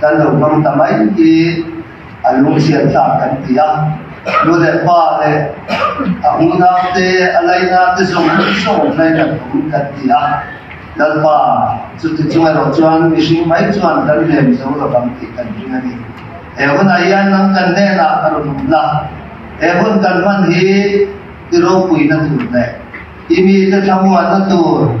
kan lo hmang ta mai hi a lunghriat tlak kan ti a, nu leh pa leh a hunak te, a laihnak te zawng zawng zawng hlei kan awm kan ti a, Lalpa chuti chung erawh chuan mihring mai chuan kan lem zo lo ang tih kan hring a ni. He hunah hian nang kan hnenah a rawn awm la, he hun kan hman hi i ropuina tur leh i mite thlamuanna tur,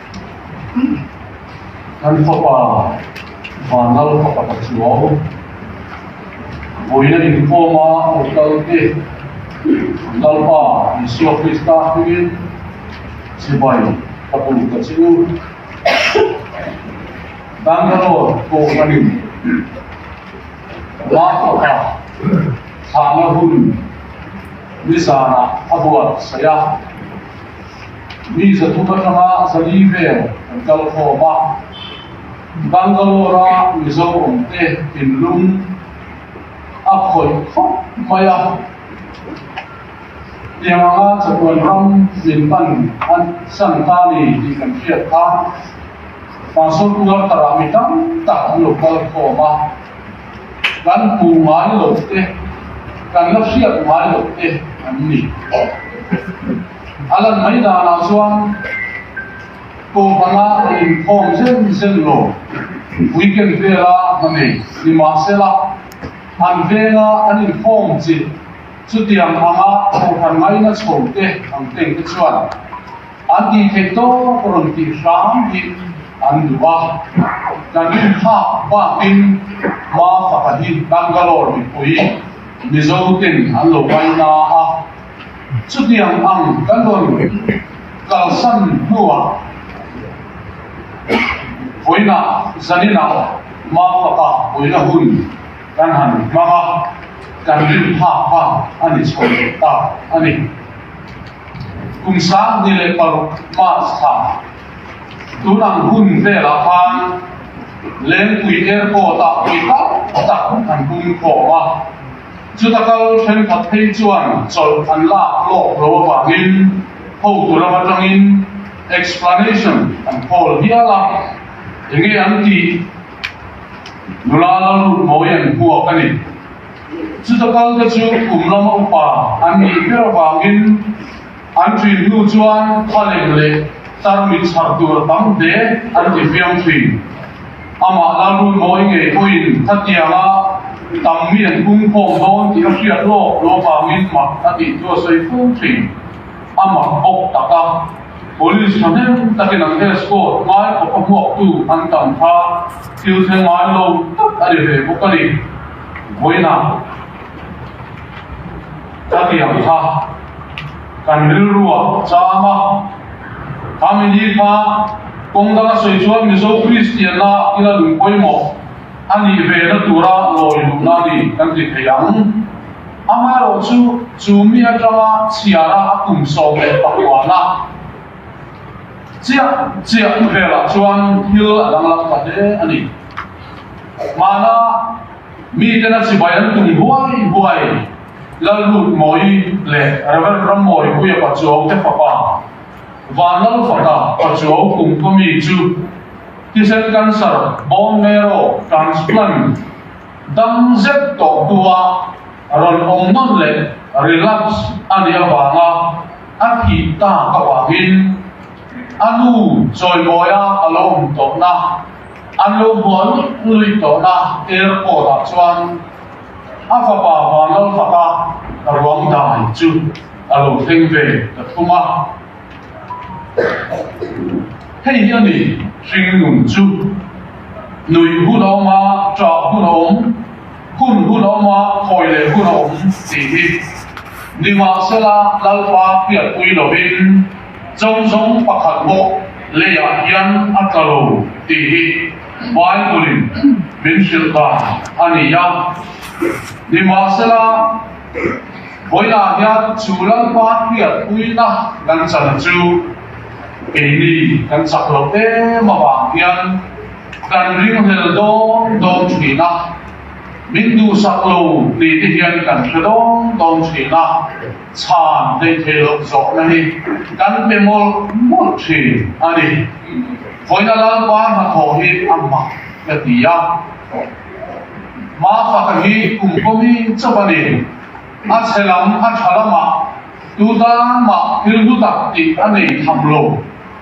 Kan fapa Vanal Papata chuang vawiin a inkhawm a, aw Kalte, Lalpa Isua Krista hmingin chibai ka tum ta che u. Bangalore pawh ka rin. Martha-pa thlahna hun ni zanah a buatsaih a. Mi zathum aṭanga zali vel an kal khawm a. Bangalore-a Mizorante thinlung a khawih khawp mai a. Tiang anga chawhtuan ram min hman a san ta ni tih kan hriat kha. Tah sawn Uartarah mi tam tak an lo kal khawm a. Kan hmuh ngai loh te, kan la hriat ngai loh te an ni. A lan mai danah chuan Kohhana a inkhawm zel zel lo. Weekend vela a hma nei. Nimahsela, an venga an inkhawm chi. Chutiang anga Kohhan ngaina chho te ang teng te chuan an tih theih tawk a rawn tih hram hi an duh a. Kan inphak bakin Mafaka hi Bangalore mipui Mizote'n an lo ngaina a. Chutiang ang ka nun kalsan hnuah Vawiina Zanina mau faka Vawiina hun kan han hmang a, kan rin phak kha a ni chho ve ta a ni. Kum sang ni leh paruk, March, tha tun ang hun velah khan Lengpui Airport-ah mi tam tak an pung khawm a, Chuta kal thenkhat phei chuan chawlh an lak tlawk lo avangin hotu ram atangin explanation an call hial a, enge an tih? Nula lalrut mawi an buak a ni. Chuta kalte chu kum lama upa an nih ber avangin. An tui hnu chuan Thaleng leh Tarmit chhar tur tam te an ti fiam thui. Amah Lalru nawi ngei pawhin khatianga tam mi an pum khawm dawn tih a hriat lawk lawk ang in mah a tih chu a sawi fung thui. Amah bawk tak a Police thahnem takin an escort ngai khawp a hmuak tu an tam kha thil thlen ngai lo tak a ni ve bawk a ni. Vawiinah. Khatiang kha kan rilrua cham a, a mili kha kawng danga sawi chuan Mizo Kristianna ila lung pawimawh a nih ve na tura lawi luhna a ni kan ti thei ang. Amaherawh chu chu mi atanga chhiara a kum sawm leh pakhuana chiah chiah velah chuan thil a danglam ta hle a ni. Mahna. Mi ten a chibai an tum huai huai. Lallut Mawi leh Rev. Ramawih Puia Pachuau te fapa, Van Lal fata Pachuau kum kaw mi chu thisen cancer, bone marrow transplant, dam zet tawh hnuah rawn awm nawn leh relapse a nih avanga a thih tak avangin a nu chawi mawia a lo awm tawhna, An lo buah luih luih tawhna airport ah chuan a fapa Vanlalfaka ruangdai chu a lo thleng ve ta thung a. Hei hi a ni hringnun chu, nuih hun a awm a, ṭah hun a awm, hun hun a awm a, khawi leh hun a awm tih hi. Nimahsela Lalpa hriatpui lovin. Chau zawng pakhat bawk leiah hian a tla lo tih hi Bible-in min hrilh dan a ni a. Nimahsela, vawilah hian chu lalpa hriatpuina kan chana chu keini kan chak loh em avang hian kan ringrel dawng dawng thin a, min duhsak lo titi hian kan hre dawng dawng thin a. Chhan hleithei loh zawhna hi kan pe mawlh mawlh thin a ni. Khawina Lalpa hnathawh hi a hma ka ti a. Hma faka hi kum kawmi chauh a ni. A chhe lam a tha lamah tu tan mah thil hlu tak tih a nei tham lo.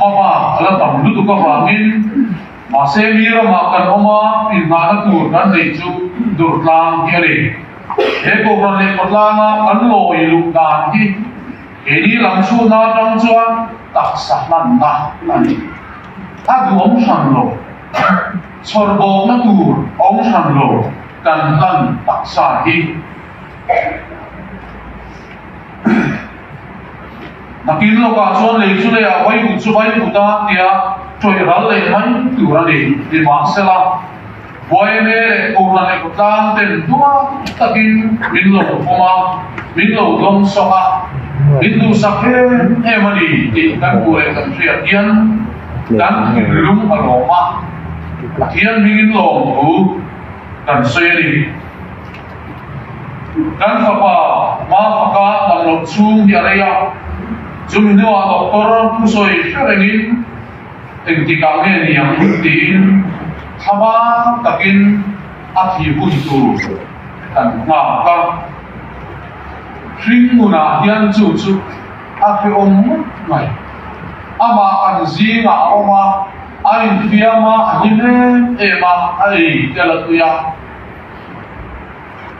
Mama ala tam lutuk avangin mahse mi ramah kan awm a, inhnahna tur kan neih chu Durtlang hi a ni. He Kohhran leh Khawtlanga kan lawi luh dan hi keini lam chhunna atang chuan taksa hmanna a ni. A duhawm hran lo, chhawr bawkna tur a awm hran lo kan hlan taksa hi. A kir lawkah chuan lei chu leiah vai ut chu vai ut a tia ṭawih ral leh mai tur a ni. Nimahsela, Buaime leh Kurla neih tlang ten duak takin min lo khawm a, min lo dawng sawk a, min duhsak em em a ni tih kan hmuh leh kan hriat hian kan thinlung a lawm a. Pathian hmingin lawmthu kan sawi a ni. Kan fapa hma faka ballawh chhung hi a rei a, chumi hnuah doctor pu sawi hre rengin engtikah nge niang tiin thlama takin a thihun tur kan nghak a. Hringngunah hian chu chu a hreawm ngawt mai. Amah kan zingah a awm a, a infiam a, a hlim em em a, a ei tel a tui a.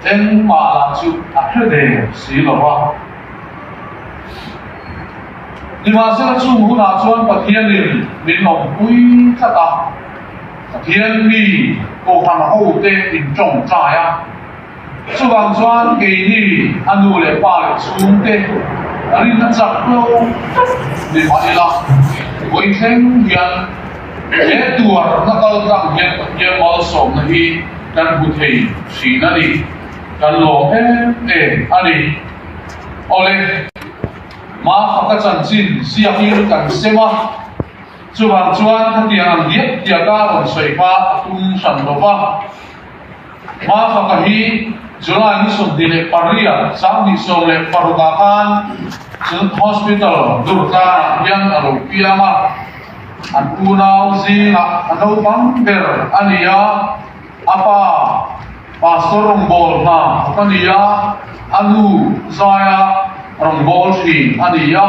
Engmah lah chu a hre ve si lo a. Nimahsela chung hunah chuan Pathianin min awmpui tlat a, Pathian mi Kohhran hote in tawngtai a. Chuvang chuan keini a nu leh pa leh chhung te a rin a chak lo tlat ni mah ila, puithleng hian, He tuar hla kal tlang hian Pathian malsawmna hi kan hmu thei thin a ni. Kan lawm em em a ni. Awle, ma faka chanchin ziak in kan sem a, chuvang chuan khatiang ang diak diak a rawn sawi hma a tum hran lo va. Hmafaka hi July ni sawmhnih leh pariah sanghnih sawm leh paruk ah khan Children's Hospital Durtlan ah hian a lo piang a. An unau zingah a naupang ber a ni a, a pa Pastor Rawngbawl hna khat a ni a, a nu zaia Rawngbawl Hrin a ni a.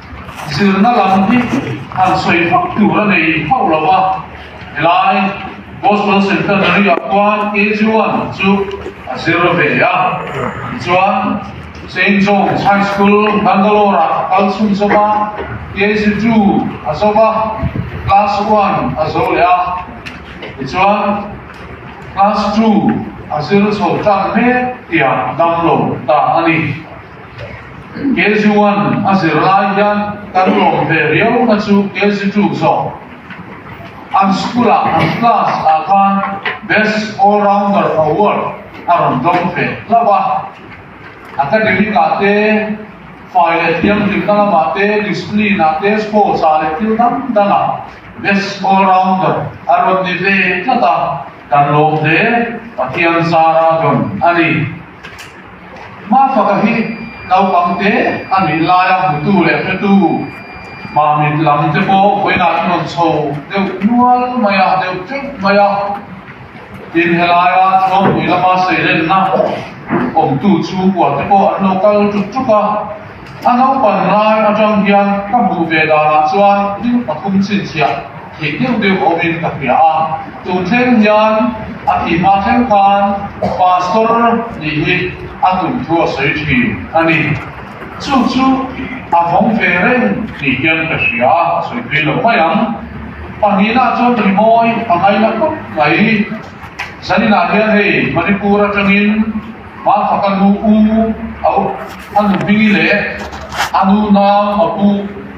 Zirna lam hi han sawi hauh tur a nei hauh lo a, helai Gospel Centenary ah khuan KG-1 chu a zir ve a. Tichuan, Saint John's High School, Bangalore ah a kal chhun zawk a, KG-2 a zawk a, Class One a zo leh a, tichuan Class Two a zir chho tan hle tiah damlo ta a ni. Kg one a zir lai hian kan lawm ve riau na chu kg two zawk. An school ah an class ah khan best all rounder award a rawn dawng ve hlauh a. Academic ah te, fai leh thiamhlimna lam ah te, discipline ah te, sports ah leh thil dang dang ah best all rounder a rawn ni ve tlat a. Kan lawm ve, Pathian zara dawn a ni. Hma faka hi naupangte a nih laia hmutu leh hretu hma mit lam te pawh vawiinah an rawn chho deuh nual mai a, deuh teuh mai a. Tin he laia Thluampui lama seirenna awmtu chhung kua te pawh an lo kal ṭuk ṭuk a. A naupan lai aṭang hian ka hmuh ve danah chuan dil pathum chhinchhiah. Tih deuh deuh awmin ka hria a, chu thleng hian a ti hma thleng khan Pastor nih hi a tum thu a sawi thin a ni. Chu chu a vawng ve reng tih hian ka hria a sawi phei lo mai ang. Pahnihnah chuan ri mawi a ngai na khawp mai. Zaninah hian hei Manipur atangin hma kha ka nu u, a nuhmingi leh a nunau a bu,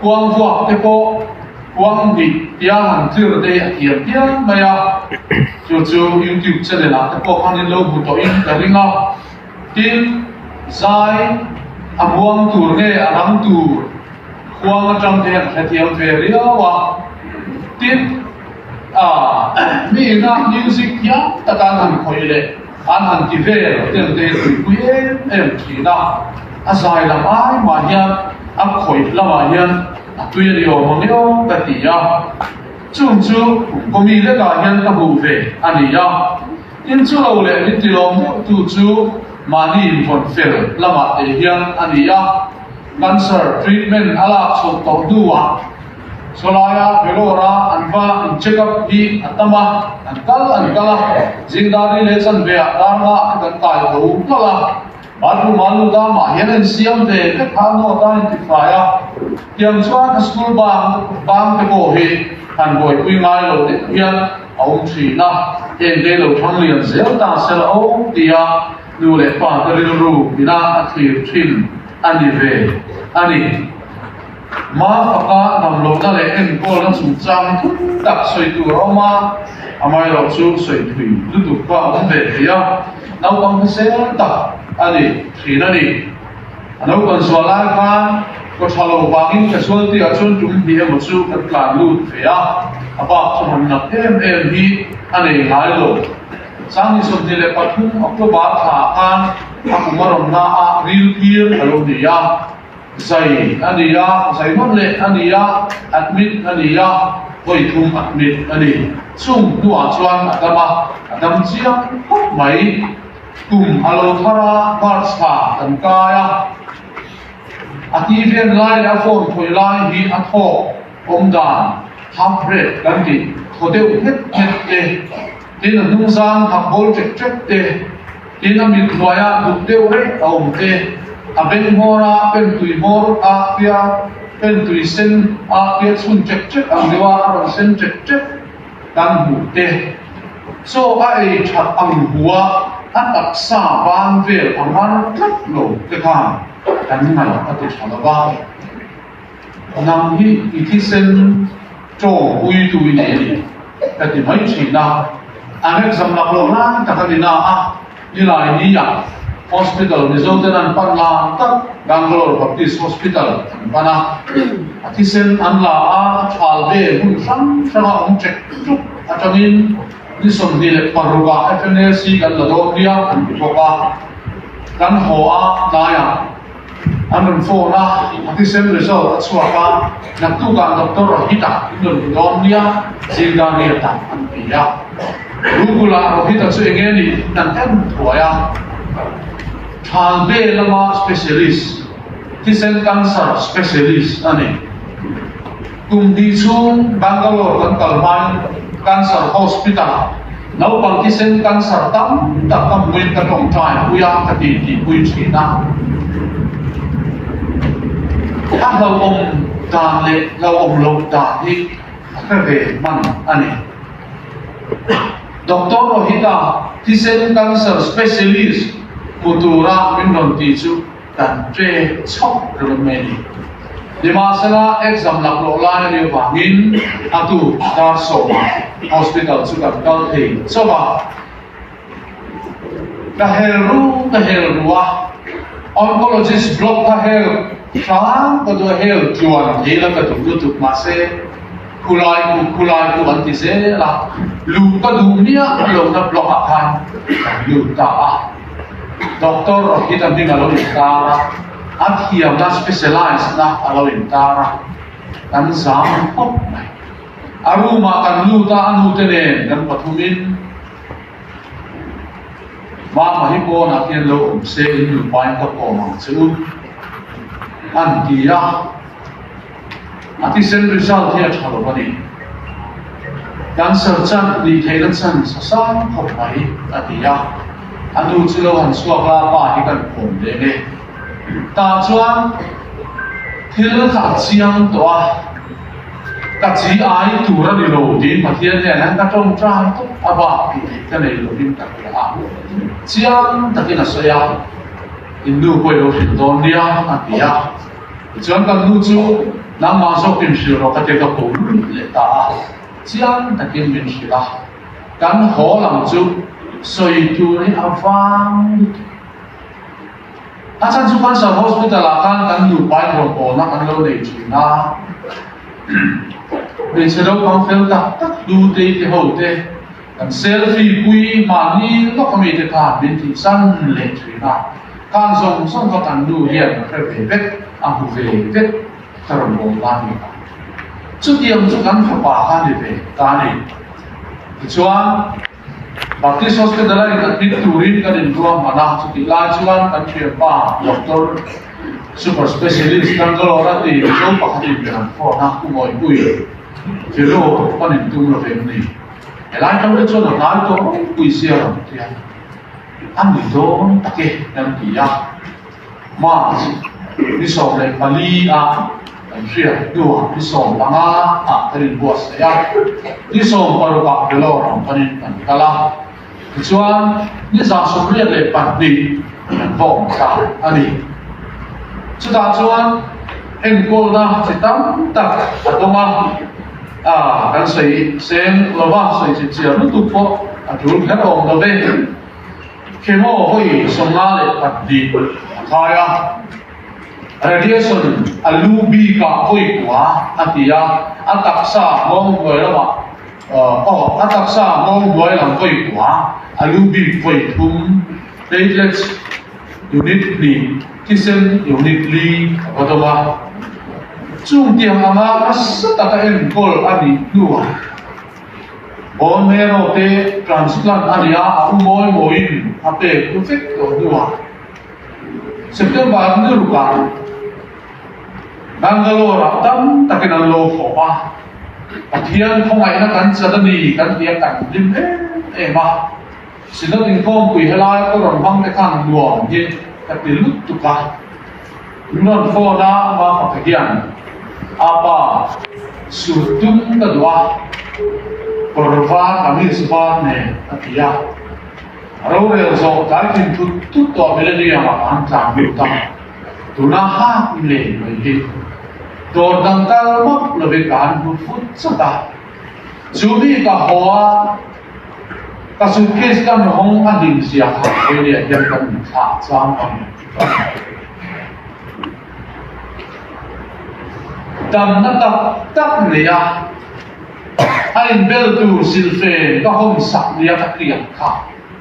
Kuang vuak te pawh Kuang Dik tia han tir daih a thiam hial mai a, chu chu YouTube channel ah te pawh khan in lo hmu tawh in ka ring a, tin, zai a buang tur nge a ram tur Kuang atang hian a hrethiam ve riau a, tin, ah, mi ina music thiam taka an han khawih leh. An han ti vel tel te tuipui em em thin a, a zai lam ai mah hian a khawih lamah hian a tuia ni awm ang io ka ti a, chung chu khawm mi lekah hian ka hmuh ve a ni a, tin chu lo leh min ti lawm deuh tu chu mahni invawn fel lamah te hian a ni a, cancer treatment a lak chhoh tawh hnuah, Chulaia Vellore-a an va an check up hi a tam a, an kal an kal a, zingdari leh chanveah darna a kan kai tho nghal a, bathroom-a lu ta mah hian a insiam ve vek kha note a intifai a, tiang chuan a school bang bangte pawh hi han buaipui ngai lo deuh hian a awm thin a, heng hi lo thang lian zel ta se la aw tia nu leh pate rilru ina a thlir thin a ni ve a ni. Hma faka damlohna leh enkawlna chungchang thlum tak sawi tur a awm a, amaherawh chu sawi phui lutuk kha a awm ve thei a, naupang kha sel tak a ni thin a ni. A naupan zual lai khan kawtha lo vangin ka zualti ah chuan tum hnih emaw chu kan tlan lut ve a, a bak chu han ngap em em hi a nei ngai lo. Sangni sawmhnih leh pathum October thla ah khan a kum a rawn na a rilkir a lo ni a. Zai a ni a, zai hmang leh a ni a, admit a ni a, hawi thum admit a ni. Chung hnuah chuan a dam a, a dam chiang khawp mai. Kum a lo thar a, March ha kan kai a. A ti vel lai leh a phone khawih lai hi a thawk awm dan, half breed kan tih thaw deuh hmet hmet e. Tin, a hnung zan phak bawl ṭek ṭek te, tin a mit hnuai ah duk deuh reh a awm te, a beng hmawr a pen tui hmawr ah pia, pen tui sen ah pia chhun ṭek ṭek ang deuh ah a rawn sen ṭek ṭek kan hmuh te. Chaw a ei ṭhat ang bu a, a taksa ban vel a ngar tlat lo te khan kan ngaih a ti ṭha lo va. Nang hi i thisen to pui tu i ni a ni, ka ti mai thin a. An rek zam lak loh lai tak a ni na a, nilai ni ah hospital Mizo ten an pan lang tak, Bangalore Baptist Hospital an pan a. A thisen an la a thal ve hmun hrang hrang a awm ṭek ṭuk a tang in ni sawmhnih leh paruk ah FNAC kan la dawm nia an ti bawk a. Kan haw a tlai ah. An rawn phone a, a tisem result a chhuak a, naktuk ah doctor Rohit a in rawn ti dawn nia, zing dan ria tak an ti a. Rukul ah Rohit a chu eng nge nih in an en thuai a, Thalbe lama specialist, thisen cancer specialist a ni. Kum ti chung Bangalore kan kal hmain Cancer Hospital ah naupang thisen cancer tam tak ka hmuin ka tawngtai pui a, ka ti ti pui thin a. A hlauhawm dan leh hlauhawm loh dan hi a hre ve hman a ni. Doctor Rohita, thisen cancer specialist hmu tura min rawn ti chu Kan ṭe chauh reng mai ni. Nimahsela exam lak loh lai a nih avangin a tu Dar Sawma Hospital chu kan kal thei chauh a. Ka hel ru ka hel ru a, oncologist block kha hel hrang ka duh a, hel tluan thei la ka duh lutuk mahse khulai tu khulai tu an ti zel a, luh ka duh miah lohna block ah khan kan lut ta a. Doctor Rohit an hming a lo intâr a, a thiamna specialised-na a lo intâr a, kan zâm hawp mai. A room-ah kan lût a, a nute nen kan pathumin Mama hi pawnah hian lo awm se, in nupain ka pawh a mang che u, an ti a. a tisen result hi a tha lo a ni. Cancer chan nih theih na chan sa sang khawp mai a ti a, a nu chu lo han chhuak a, pa hi kan khawm ve nge. Ta chuan thil kha a chiang tawh a, ka chi ai tur a ni lo tiin Pathian hian hian ka tawngtai tawp a va tih theih ka nei lovin ka hria a, chiang takin a sawi a, in nu pawh i lo hrilh dawn nia a ti a. Tichuan kan nu chu nangmah zawk in hrilh rawh ka ti ka kum luh leh ta a, chiang takin min hrilh a, kan haw ang chu sawi tur hi a vang lut. A chhan chu Cancer Hospital ah khan kan nu pai hawnpawhna an lo nei thin a, hmeichhe naupang fel tak tak, Tutei te ho te, Kan selfie pui mahni lawka mite kha min tih san leh thin a, khan zawng zawng kha kan nu hian ka hre ve vek, a hmu ve vek ka rawn awm lai ni ang. Chutiang chu kan fapa kha ni ve ta ni. Tichuan, Baptist Hospital-a inadmit turin kan inruah hman a, chutih lai chuan kan thianpa doctor, super specialist, Bangalore-a ti zo pakhatin kan an phone a, Pu Mawipui, Firu, kan in tum lovem ni? He lai kal te chuan a hnai tawng pui zia lam khian a ni dawn tak e kan ti a, March ni sawm leh pali a kan hriat hnu ah ni sawm langa hnah kan inbuatsaih a, ni sawm paruk ah Vellore ang panin kan kal a. Tichuan, nizan sawmriat leh pahnih kan vawm ta a ni. Chutah chuan enkawlna chi tam tak a tawng a, a kan sawi seng lo va, sawi chhipchhiar lutuk pawh a tul kher awm lo ve. Chemo hawi sawmnga leh pahnih a khai a, radiation a lu bikah pawihpua a ti a, a taksa Muang Hnuai lamah. Aw, a taksa a ngawi hluai ang vawi kua, a lu bik vawi thum. Platelets unit hni, thisen unit li a va dawm a. Chung tiang anga hmasa taka enkawl a nih hnuah bone marrow te transplant a nia a u mawi mawiin a pek u vek tawh hnuah September rilru kah, Bangalore-ah tam takin an lo hawh a, Pathian khawngaihna kan chat a ni kan ti a kan hlim em em a, Sinod inkawmpui helai ka rawn hmang te khan nuam hi ka ti lut tuk a, min rawn phone a ma pakhat hian Apa sur tum ka duh a, kawr var kamis var nen a ti a, a rorel zawh tlai thin thut thut tawh millennium-ah ka han tlan lut a. tuna hak i nei nuai hi dawr dang tal mak lo ve kan hmu fut chawt a, chu mi ka haw a ka suitcase kan hawng a hlim zia kha Australia hian kan in thlak chuang a ni. Damna tak tak leh a a inbel tur silfen ka hawn sak liam a tiang kha.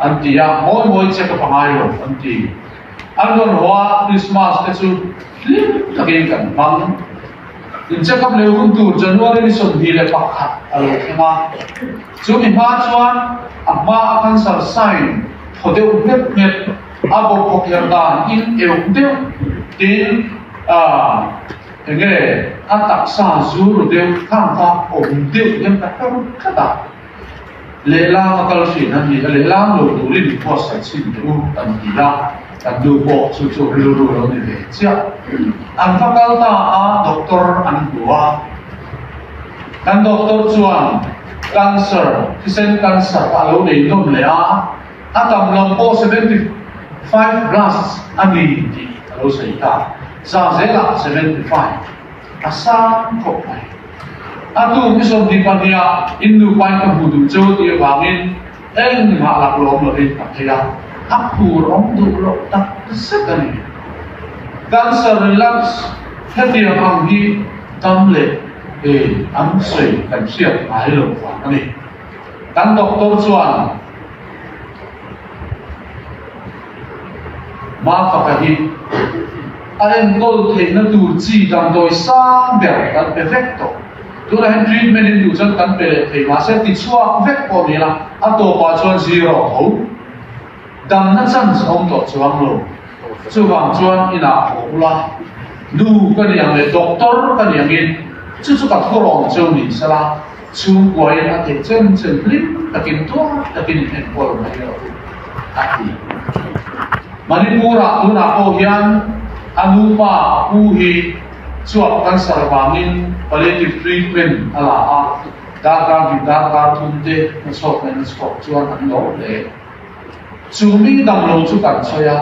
An ti a, mawi mawi che ka panga ilo an ti. An rawn haw a, Krismas te chu hlim takin kan hmang. Incheckup leh hun tur January ni sawmhnih leh pakhat a lo thleng a. Chu mi hma chuan a hma a cancer sign thaw deuh hmep hmep, a bawk bawk her dan in euk deuh tin aah enge a taksa zu ru deuh thlangkha awm deuh hian ka hre rawt tlat a. Lehlam a kal hrih na hi a lehlam lo turin phuarsat chhin teh u kan ti a, kan nu pawh chu chu rilru alo ni ve chiah. An va kal ta a doctor an hmu a, kan doctor chuan cancer thisen cancer kha alo nei nawm leh a, a tam lam pawh seventy five plus a ni tih alo sawi ta, za zel ah seventy five a sang khawp mai. A tu i sawmhnih pahniha in nupai ka hmuh duh cho tih avangin engmah lak lawm lo in ka phei a, a phur awm duh loh tak ta zet a ni. Cancer relapse hetiang ang hi dam leh ei an sawi kan hriat ngai lo vang a ni. Kan doctor chuan. Hma taka hi a enkawl theihna tur chi dang dawi sang ber kan pe vek tawh. Tunah hian treatment in duh chuan kan pe leh thei mahse tichhuak vek pawh nia, a tawpah chuan zero tho. Damna chance awm tawh chu ang lo. Chuvang chuan inah pawh bula nu ka niang leh doctor ka niangin chu chu ka thurawng cheu ni sela. Chu buaiin a ti chen chen hlim takin tuar takin enkawl mai lo a ti. Manipura tunah pawh hian a nupa a pu hi chuak cancer vangin palliative treatment a la a, darkar dik darkar thum te hnathawk leh hnathawk chuan an lo hle. Chu mi dang lo chu kan sawi a,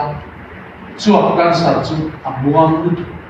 chuak cancer chu a muang lut.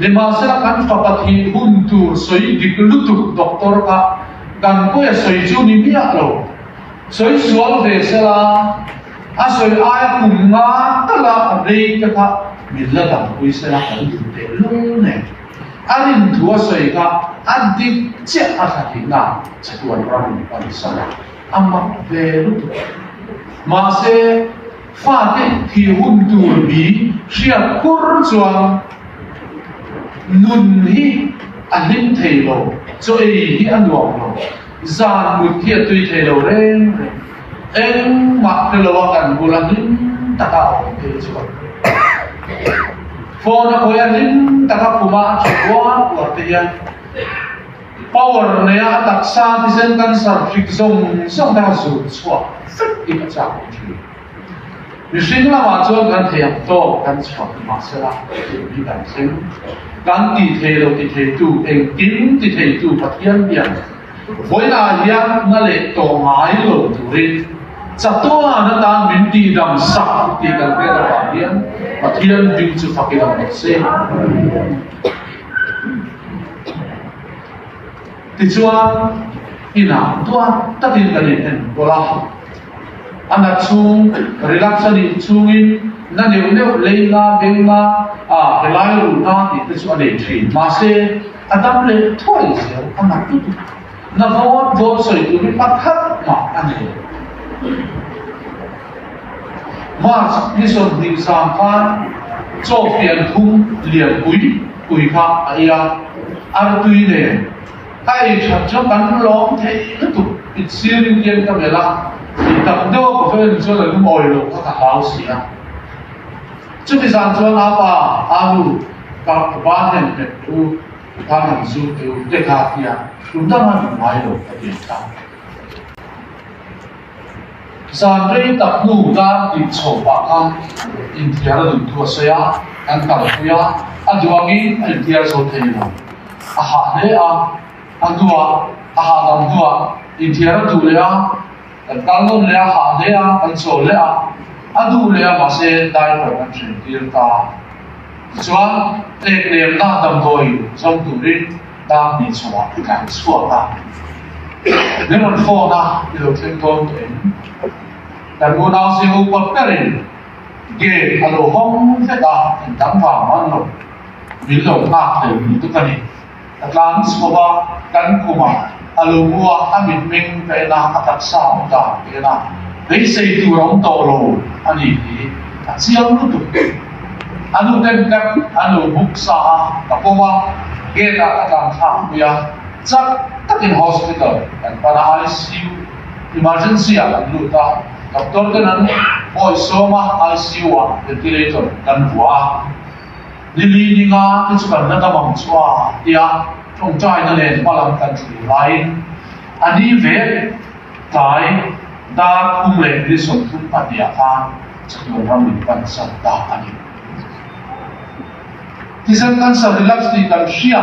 Nimahse a kan fapa thih hun tur sawi dik lutuk doctor kha kan kawia sawi chu ni miah lo. Sawi sual ve sela a sawi aia kum nga tala a rei te kha min la dang pui sela kan duh teh lung nen a rin thu a sawi kha a dik chiah a tha thih na chatuan ram in pan sala a mak ve lutuk. Mahse. Fate ti hun tur bi hriat pur chuan nun hi a hlim thei lo, chaw ei hi a nuam lo, zan mut hi a tui thei lo reng reng. Engmah te lo a kan bul a hlim tak a awm phei chuan phone a khawi a hlim tak a khum a a tha uar uar te hian. Power neia a taksa tizen kan sarhphik zawng zawng te kha zun chhuah zet in a chak awm thin. Mihring lamah chuan kan thei ang tawk kan chhuah ni mahsela thil hi kan thleng. Kan tih thei lo ti theitu engtin ti theitu Pathian biak vawilah hian na leh tawh ngai lo turin chatuan atan min tih dam sak tih kan pek avang hian Pathian hming chu fakin a awm se. Tichuan, inah tuan takin kan inhen pawlh a, a nat chhung rilak chhan ih chungin na neuh neuh lei hna, beng hna, helai ru hna tihte chu a nei thin. Mahse, a dam leh thuai zel, a nat lutuk. Navawn vawnsawi tur hi hmakhat mah a nei. March ni sawmhnih zam khan Chawhfian thum lian pui pui kha a ei a, artui nen a ei that chuan kan lawm thei lutuk, it sir rin kian ka melh a, i tak deuh a pawh em chuan a lum awi loh kha ka hlau si a. Chumi zan chuan apa, aa nu, ka va hnem hmet u. Van an zir tir te ka tia tum dang a ni ngai lo ka ti ta. Zan rei tak hnu tlan tih chho pah khan inthiar a duhtu a sawi a, kan kalpui a, a duangin a inthiar zo thei lo. A hah hle a, a duah, a hahdam duah inthiar a duh leh a. Kan kal nawn leh a, hah hle a, kan chaw leh a, a duh leh a mahse diaper kan hreh tir ta. Tichuan, tlek lemna damdawi zawm turin dang hnih chungah i tlan chhuak a. Min rawn phone a, i lo thleng dawn tawh em? Kan unau chu upat berin gate a lo hawng hlet a, in dang vang hmanlo min lo nghak thei ni dup a ni. A tlang chhuah a, kan kum a, a lo mu a, a mit meng daihna a taksa a awm dan tein a, beisei tur a awm tawh lo a nih hi a chiang lutuk teh. A nu tem tak an lo buk sa a, ka pawm a, gate ah ka tlangthlak pui a, chak takin hospital kan pan a, ICU, Emergency, ah kan lut a, doctor ten an hawi sawm a, ICU ah ventilator kan vuah a. Lily ninga inchhûkarna tam ang chua tia ṭawngṭaina nen hma lam kan thlir laiin a ni ve tlai Dar Khum leh Nison Khum pahniha khan chatuan ram in kan zam ta a ni. Tizel kan sa relax tih kan hria.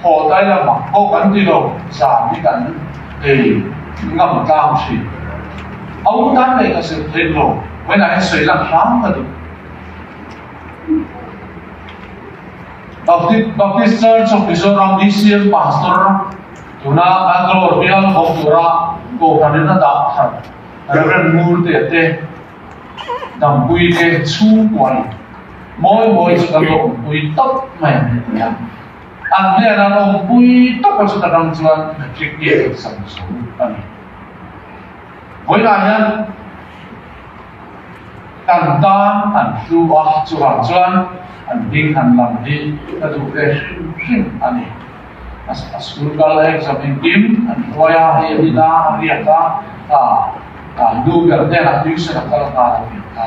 Phaw tai la mak pawh kan ti lo, zan hi kan ei ngam tlang thin. A u tan leh ka zir theih lo, vawiinah hian sawi lak hlang ka duh. Baptist Baptist Church of Mizoram DCM Pastor tuna kan dawr bial khawm tura kohhran in a dah khat Rev. Murtea te, Dampuii te chhungkuai mawi mawi chu kan rawh awmpui tawp mai an ni ania. An hlian an awm pui tawpa chutak ang chuan matric hi a rawn sam tho a ni. Vawilah hian kan tan an hlu a, chuvang chuan an ding an lam hi ka duh ve hrim hrim a ni. A school kal exam engkim an hruai a, hei a nila a riat a, ka ka lu ber hnenah tuition a kal nghal ang tih kha.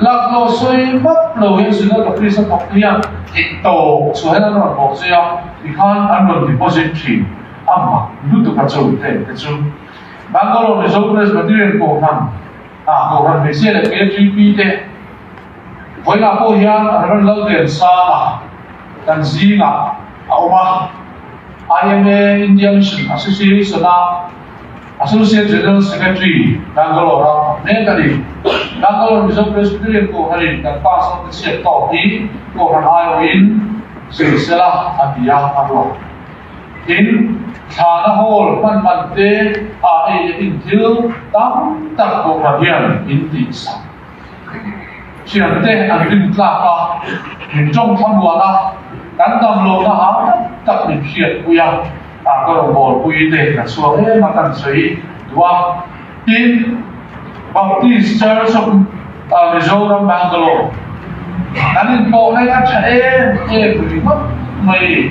Lak lo sawi hmak lo in Sudan ka priest a thawk nia thih tawh chhuah hian an rawn awh zui a, tikhan an rawn deposit thin a mak lutuk a chawi vel te chu Bangalore Mizo Presbyterian Kohhran a Kohhran hmeichhia leh hmeichhia GP te vawilah pawh hian Rev Lalden Sama kan zingah a awm a, IMA India Mission Association a Associate General Secretary Bangalore a phawt mek a ni. Bangalore Mizo Presbyterian Kohhranin kan pa zawk ka chhiat tawk hi Kohhran aiawhin zir se la a ti a a ruah. Tin, thlana hawl hmanhman te ah ei nehin thil tam tak Kohhran hian in tihsak. Hrialte an rin tlak a, min tawng thlamuan a, kan damloona hau tak tak min hriat pui a, a ka rawn bawl pui te ka chuang em a kan sawi duh a. Tin, Baptist Church of Mizoram, Bangalore, kan inpawh hi a tha em em ringawt mai.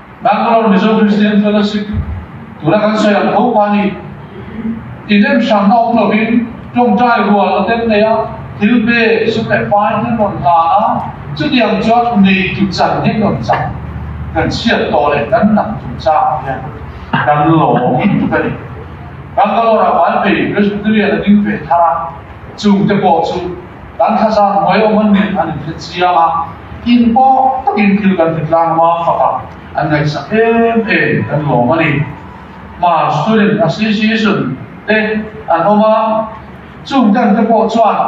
Bangalore Mizo Christian Fellowship tura kan sawi ang tho kha ni. In en hram awm lovin tawngtai rual a tel mai a, thil pe saw leh pai hi rawn ta a, chutiang chuan neitu chan hi rawn cham kan chhiat tawh leh kan nang chungchang hian kan lawm in tuk a ni. Bangalore-a Hmai Phei Presbyterian a ding ve thar a, chungte pawh chu, Kan thlazak hnuai awm an nih an inphetchiang a, in pawh takin thil kan ti tlang hma faka an ngaihsak em em kan lawm a ni. Hma student a si si sun te an awm a, chung ten te pawh chuan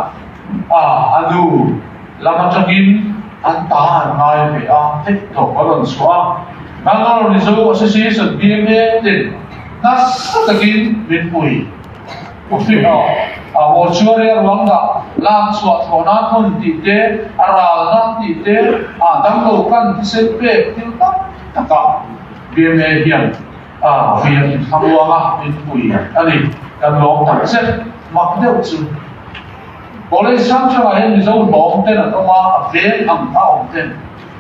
a a nu lam atangin an ta an ngai ve a, theih tawh ka rawn suah a. Bangalore mizo a si si sun BMA te nasa takin min hmui. Puhliho, Awuchuaria ruangah lak chhuah thaw nan hun tih te, a ral nan tih te ah dang lo kan thisen pek thil tak takah BMA hian via inthlamuang a inpui a ni. Kan lawm tak zet mak deuh chu. College sang chungah hian Mizo lawm ten an awm a, a veng ang kha a awm ten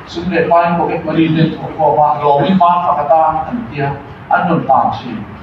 Sum leh Pain Pocket Money ten thu a khawm a, lawmin man pakhat a an tia an rawn tan thin.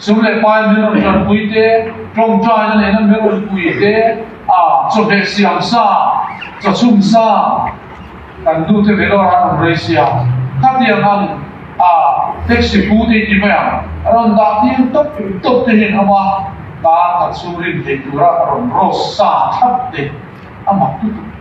Chu leh pa in min rawn ṭan pui te, ṭawng ṭa in a neihna min rawn pui te, chawhmeh siam sa, chawchhum sa kan duh te ve lawk a rawn rei sia. Khatiang ang taxi pu te ti mai ang, a rawn dah tir tawp tawp te hian hama ta khat chu rin theih tura a rawn rose sa tlat te a mak lutuk.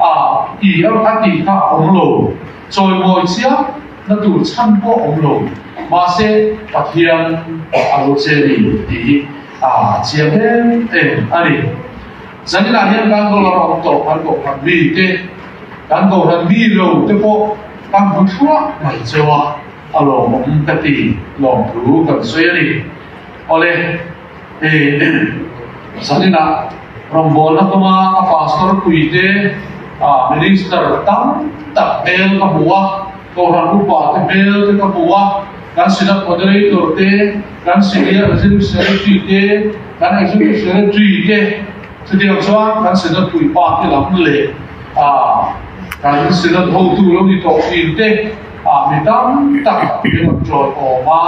a ti a a tih kha a awm lo, chawimawi chiang na tur chhan pawh a awm lo, mahse Pathian a lo che ni tih hi a chiah hlel em a ni. Zaninah hian kan dollar awm tawh kan kohhran mi te, kan kohhran mi lo te pawh kan hmu thluah mai cheu a, a lawmawm ka ti lawmthu kan sawi a ni. Awle. Sanina, rawngbawlna kawma ka pastor pui te, minister tam tak hmel ka hmu a, Kohhran upa te hmel te ka hmu a, kan Senate moderator te, kan Senior Executive Secretary te, kan Executive Secretary te, chutiang chuan kan Senate puipa te lam leh kan Senate hotu lo ni tawh fîm te, Ah mi tam tak min rawn ṭawlhawm a,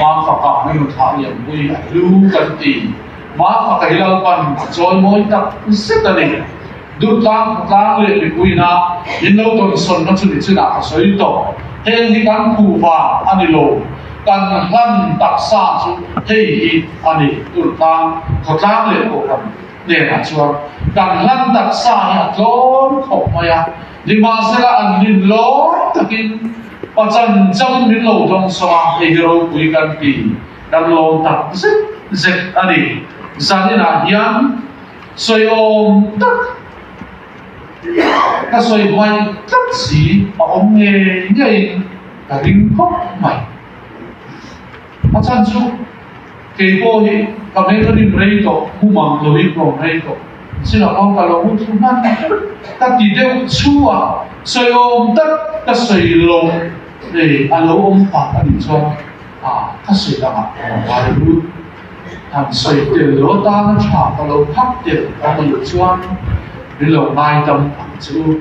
Mafaka na nu thah lianpui a hlu kan ti. Mafakei lalpan a chawimawi tak zet a ni. Duhtlang khawtlang leh mipuina min lo tawnsawnna chu ni chinah ka sawi tawh. Heng hi kan khuh vang a ni lo. Kan hlan taksa chu hei hi a ni, Duhtlang khawtlang leh pawh kan hnenah chuan kan hlan taksa hi a tlawm khawp mai a. Nimahsela an hlim lawm takin pachan chang min lo tawng sawm a, hei hi ropui kan ti kan lawm tak zet zet a ni. Zaninah hian sawiawm tak ka sawi hmai tlat si a awm ngei ngeiin ka ring khawp mai. A chan chu, Kei pawh hi ka meng a rim rei tawh, hmu mang lo in rawng rei tawh, sila khaw ka lo hmu thu hman ka ti deuh chhuah sawiawm tak ka sawi lo nei a lo awm tak a nih chuan ah ka sawi ang ah ka ngai lut han sawi tel lo tan a tha ka lo phak tel ka hmu leh chuan ri lo ngai tam ang chu.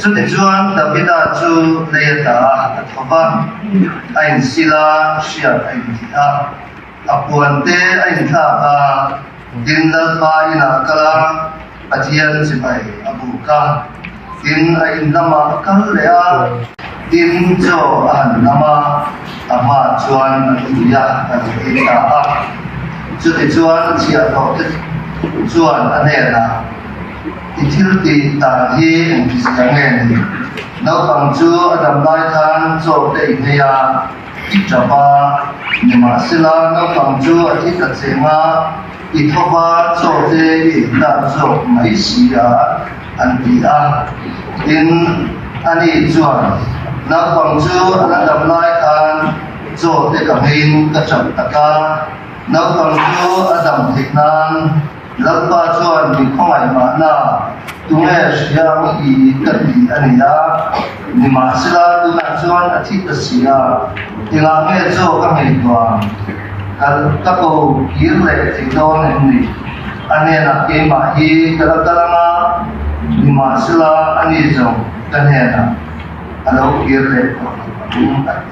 Chutih chuan Davida chu leiata a hat a thawp a, a insil a, hriat a intih a, a puante a inthlak a, tin lalpa inah a kal a, Pathian chibai a buk a, tin a in lamah a kal leh a, tin chaw a han lam a, a hma chuan a tui a, a nih dik ta a. Chutih chuan chiah hlawhte chuan a hnenah. I thil tih dan hi engtichh chiang nge ni? Naupang chu a dam lai khan chaw ka i hmei a, i ṭap a. Nimahsela, naupang chu a thi ta cheng a, i thova chaw te i en dan zawk mai si a, an ti a. Tin, ani chuan, Naupang chu a la dam lai khan chaw te ka ngeiin ka ṭap tak a. Naupang chu a dam theih nan, Lalpa chuan mi khawngaihnahna tu nge hriang i ka ti a ni a, nimahsela tunah chuan a thih ka si a, engah nge chaw ka ngei tuam? Ka ka ko kir leh thei dawn em ni? A hnenah keimah hi ka la kal ang a, nimahsela ani zawng ka hnenah a lo kir leh tuam ang a ti.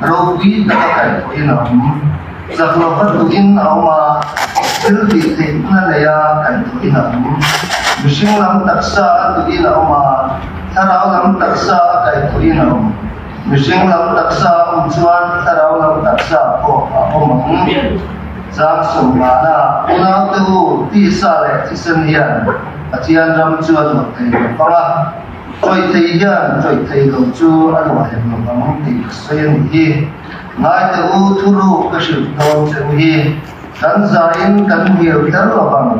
Ropui taka kaih pawh i lam zaklawh va duh in a awm a, thil tih theih hna neia kaih duh i lam, mihring lam taksa a duh in a awm a, thlarau lam taksa a kaih duh in a awm. Mihring lam taksa a awm chuan thlarau lam taksa pawh a awm ang. Zang sawm nghahna unaute u tisa leh thisen hian Pathian ram chu a duak thei ve pang a. Chawihthei hian chawihthei loh chu a ruahlem loh ang tih ka sawi a nih hi. Ngaite u, thuruk ka hrilh dawn che u hi. Kan zain kan hnial tel lo ang.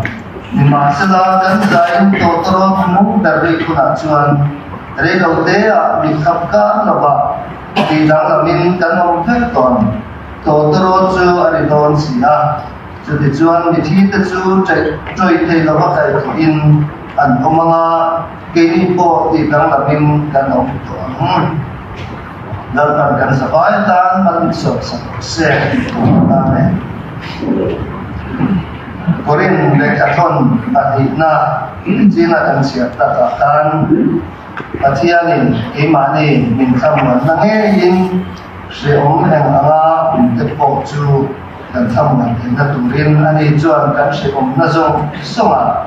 Nimahsela kan zain Tawtawrawt mum ber rih hunah chuan Reilo teah mi khat kar lovah tih danglangin kan awm vek tawh ang. Tawtawrawt chu a ri dawn si a, chutichuan mithi te chu chawihthei lova kaihthawhin an awm ang a. Keini pawh tih danglam in kan awm tawh ang. Lalpan kan za bai tan hman in zawt sak rawh se tih tur a la nen. Korin leh a tlawn a hnihna nichin a kan chhiar tak ah khan Pathian in keimahni min thlamuanna ngei in hreawm eng ang a kum te pawh chu kan thlamuan theihna tur in ani chuan kan hreawmna zawng zawng ah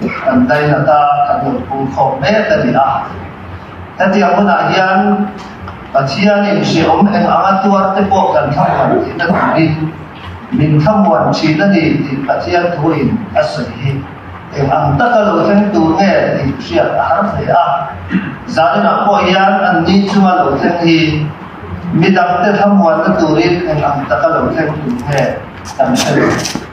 Kan daihata ka hmuh pum khawp mek a ni a. Hetiang hunah hian Pathianin hriawm eng anga tuar te pawh kan thlamuan thin a ni hi, min thlamuan thin a ni tih Pathian thuin a sawi hi eng ang taka lo thleng tur nge tih hriat a har hle a. Zaninah pawh hian an ni chunga lo thleng hi midangte thlamuanna turin eng ang taka lo thleng tur nge kan hre lo.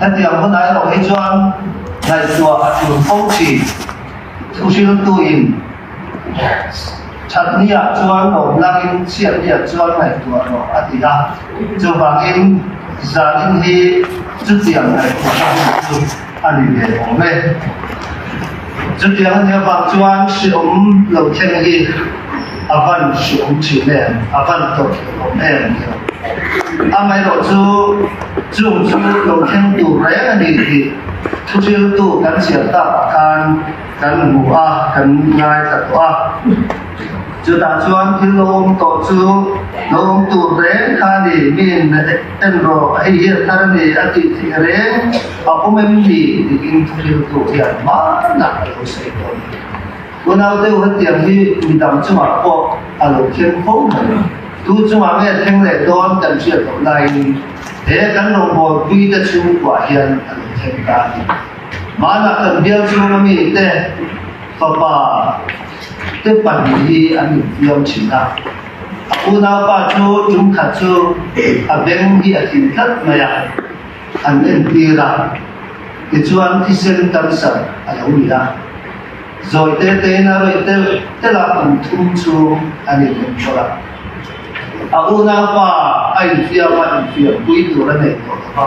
Hetiang hun ai loh hi chuan ngaihtuah a tlun fo thin. Thu hriltuin thatnia chuan lohnangin chhiatnia chuan ngaihtuah rawh a ti a. Chuvangin zanin hi chutiang ngaihtuahna hmuh chu a ni ve awm e. Chutiang a nia vang chuan hriawm lo thleng hi a van hriawm thin em, a van tawp thin awm em ni lo. Amaherawh chu chung chu lo thleng tur reng a ni tih thuhriltu kan chiar takah khan kan hmu a, kan ngai ta tawh a. Chutah chuan thil lo awm tawh chu lo awm tur reng kha a ni, mi in a. Heng ro, hei hian thar nge a tih theih reng a awm em ni? tiin thuhriltu hian hmanah a lo sawi dawn a ni. Unau deuh hetiang hi mi dang chungah pawh a lo thleng kho mai lo. Tu chungah nge thleng leh dawn kan hriat loh laiin he kan rawngbawipuii te chhungkuah hian a lo thleng ta a ni. Hmanah kan bial chhung a mite fapa te pahnih hi an infiam thin a. A unau pa chu tum khat chu a beng hi a tling tlat mai a, an entir a, tichuan thisen tam sat a lo ni a, zawite tein a rawih telh telh a, kum thum chu an inlem tawrh a. A unau pa a infiama infiam pui tur a nei tawh lo va.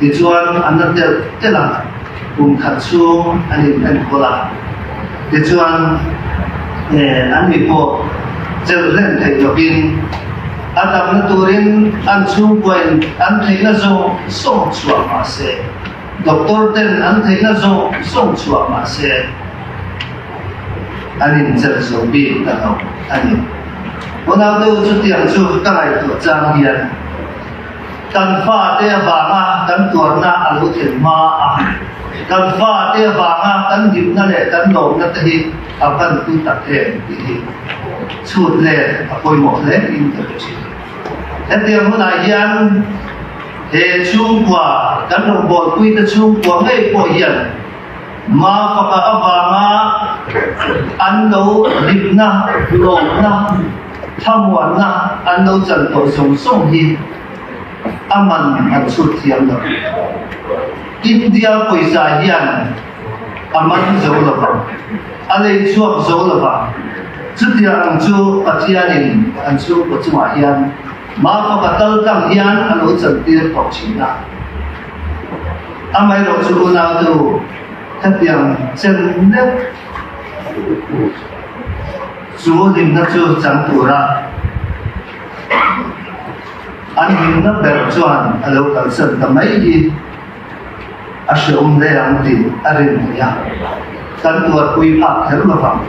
Tichuan a na telh telh a, kum khat chhung an inhen kual a. Tichuan eh, annih pawh chel hlem theih tawkin a damna turin an chhungkuain an theihna zawng zawng chhuah mahse, doctor ten an theihna zawng zawng chhuah mahse an inchel zo bik ta hlawm a ni. Unau deuh chutiang chu ka ngaihtuah chang hian. kan fate vanga kan tuarna a lo thlen hma a, kan fate vanga kan dimna leh kan lawmna te hi a ban pui tak em tih hi chhut len a pawimawh hle in ka hre thin. Hetiang hunah hian he chhungkua kan rawn bawl puite chhungkua ngei pawh hian Mafaka avanga an lo ripna, lawmna, Thlamuanna an lo chan tawh zawng zawng hi a man han chhut thiam lo. India pawisa hian a man zo lo vang, a lei chhuak zo lo vang. Chutiang ang chu Pathianin an chhungkaw chungah hian Mafaka kal tlang hian a lo chantir tawh thin a. Amaherawh chu unautu khatiang chen deuh. Chu dinna chu chang tura an dinna ber chuan a lo kalsan ta mai hi a hreawm hle ang tih a rin theih a, kan tuarpui phak kher lovang.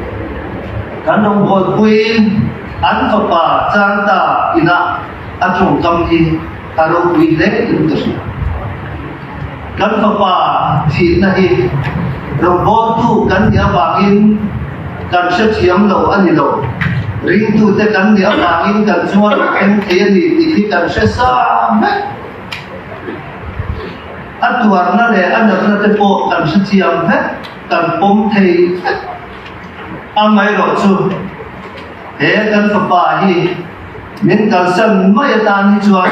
Kan rawngbawl puiin an fapa Changta inah a tawngkam hi. a ropui hle tum ta hriat. Kan Fapa thihna hi ropbawltu kan nih avangin kan hrethiam lo a ni lo, ringtute kan nih avangin kan chunga rawn thleng thei a ni tih hi kan hresam hlek. A tuarna leh a natna te pawh kan hrethiam hlek, kan pawm thei hlek. Amaherawhchu, He kan fapa hi min kalsan mai atan hi chuan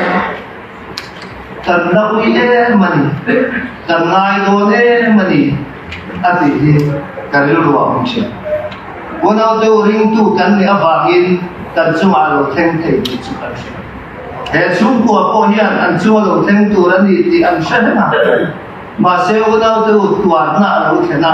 kan la ui em a ni, kan ngai dawn em a ni a tih hi ka rilru a awm thin. Unaute u ringtu kan nih avangin kan chungah lo thleng thei tih chu kan hre. He chhungkua pawh hian an chunga lo thleng tur a ni tih an hre hleng a, mahse unaute u tuarna a lo thlen a.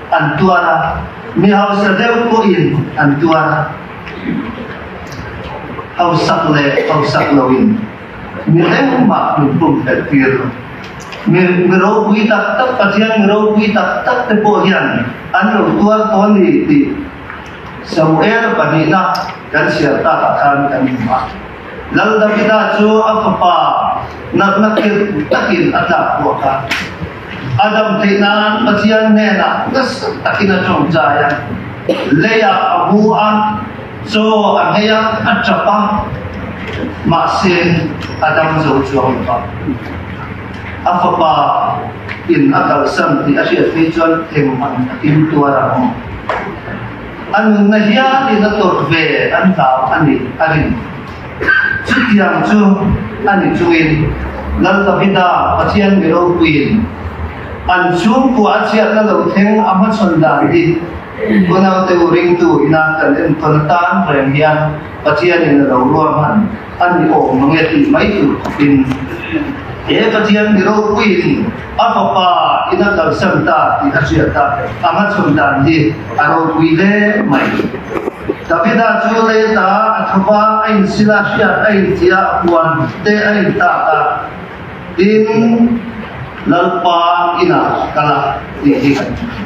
An tuar a, mi hausa deuh pawhin an tuar a. Hausak leh hausak loin mi tlengmah min pum fel tir lo. Mi mi ropui tak tak, Pathian mi ropui tak tak te pawh hian an lo tuar tawh a ni tih Samuel pahnihna kan siam takah khan kan hmu a. Lal Davida chu a fapa natna kir takin a tlak buak a. Adam theih nan Pathian hnenah nasa takin a ṭawngcai a. Leia a bu a, chaw a hei a, a ṭap a. Mahse Adam zo chuang lo va. A fapa in a kalsan tih a hriat phei chuan engmah in a timtuar ang? a nunna hial in a tawrh ve an tlau a nih a rin. Chutiang chu a ni chungin Lal Davida Pathian mi ropuiin an chhungkua a chhiat na lo thleng a hmachhawn dan hi Unaute u ringtu ina kan enkawl atan reng hian, Pathian in a lo ruah hman a ni awk maw nge tih mai tur khawpin, He Pathian mi ropuiin a fapa in a kalsan ta tih a hriat a, a hmachhawn dan hi a ropui hle mai. Davida chu lei ta a tho va a insil a hriat a inti a, a puan te a intak a, tin, Lalpa inah a kal a tih hi kan hmu thei.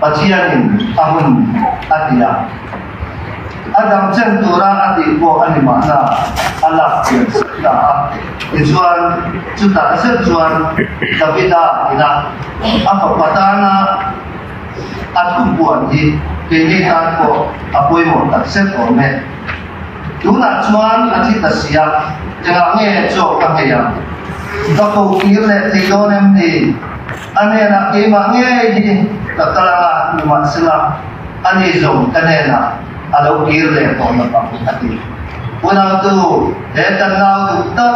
Pathianin a hun a ti a. A dangchen tura a tih pawh a ni mahna a lak chian sap ta a. Tichuan, chutah zet chuan Davida inah a fapa tana a thubuan hi keini tan pawh a pawimawh takzet awm e. Tunah chuan a thi ta si a, engah nge chaw ka ngei ang? Ka ko kir leh thei dawn em ni? A hnenah keimah ngei hi ka kal anga hnu mah sela a ni zawng ka hnenah a lo kir leh tawh na bang, a ti. Unautu he kan nau duh tak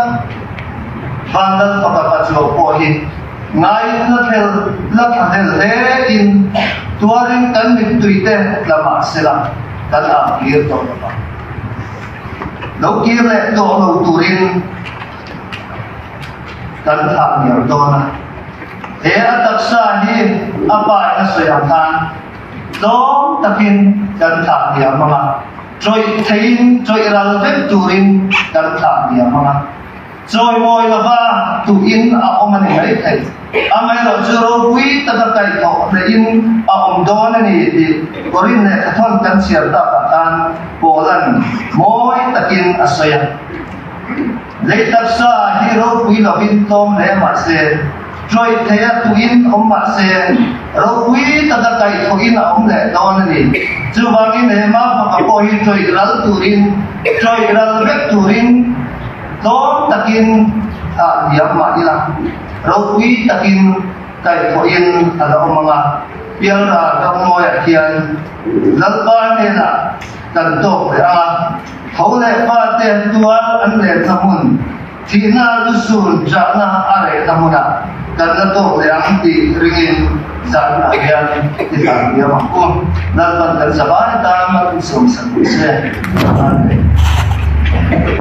van dal faka pachuak pawh hi ngaihtna fel la tha hel hle in tuarin kan mittui te tla mah sela kan âkir tawh na bang. Lo kir leh tawh lo turin. kan thlah hniam dawn a. He a taksa hi a pai a sawi ang khan tlawm takin kan thlah hniam mang a, chawih theihin chawih ral vek turin kan thlah hniam mang a. Chawimawi lova tuhin a awm a ni maithei, amaherawh chu ropui taka kaih tawh hlehin a awm dawn a ni tih Corinne leh Cathoan kan chhiar takah khan Paul-a'n mawi takin a sawi a. Lei taksa ah hi ropui lo in tlawm hle mah se, ṭawih theih a tuh in awm mah se, ropui ta ta kaih thawh in a awm leh dawn a ni. Chuvang in he mah faka pawh hi ṭawih ral tur in, ṭawih ral vek tur in, tlawm tak in a hliam mah ila, ropui tak in kaih thawh in a lo awm ang a. Pialral ramngawi ah hian Lalpa hnenah. kan tawk leh a, tho leh pa te an tuar an relna hmun, thihna lu sur chahna a rehna hmuna kan la tawk leh ang tih ringin zanah hian i hlantiam ang u. Lalpan kan zavai tan a, Isawmsat ni se. Amen.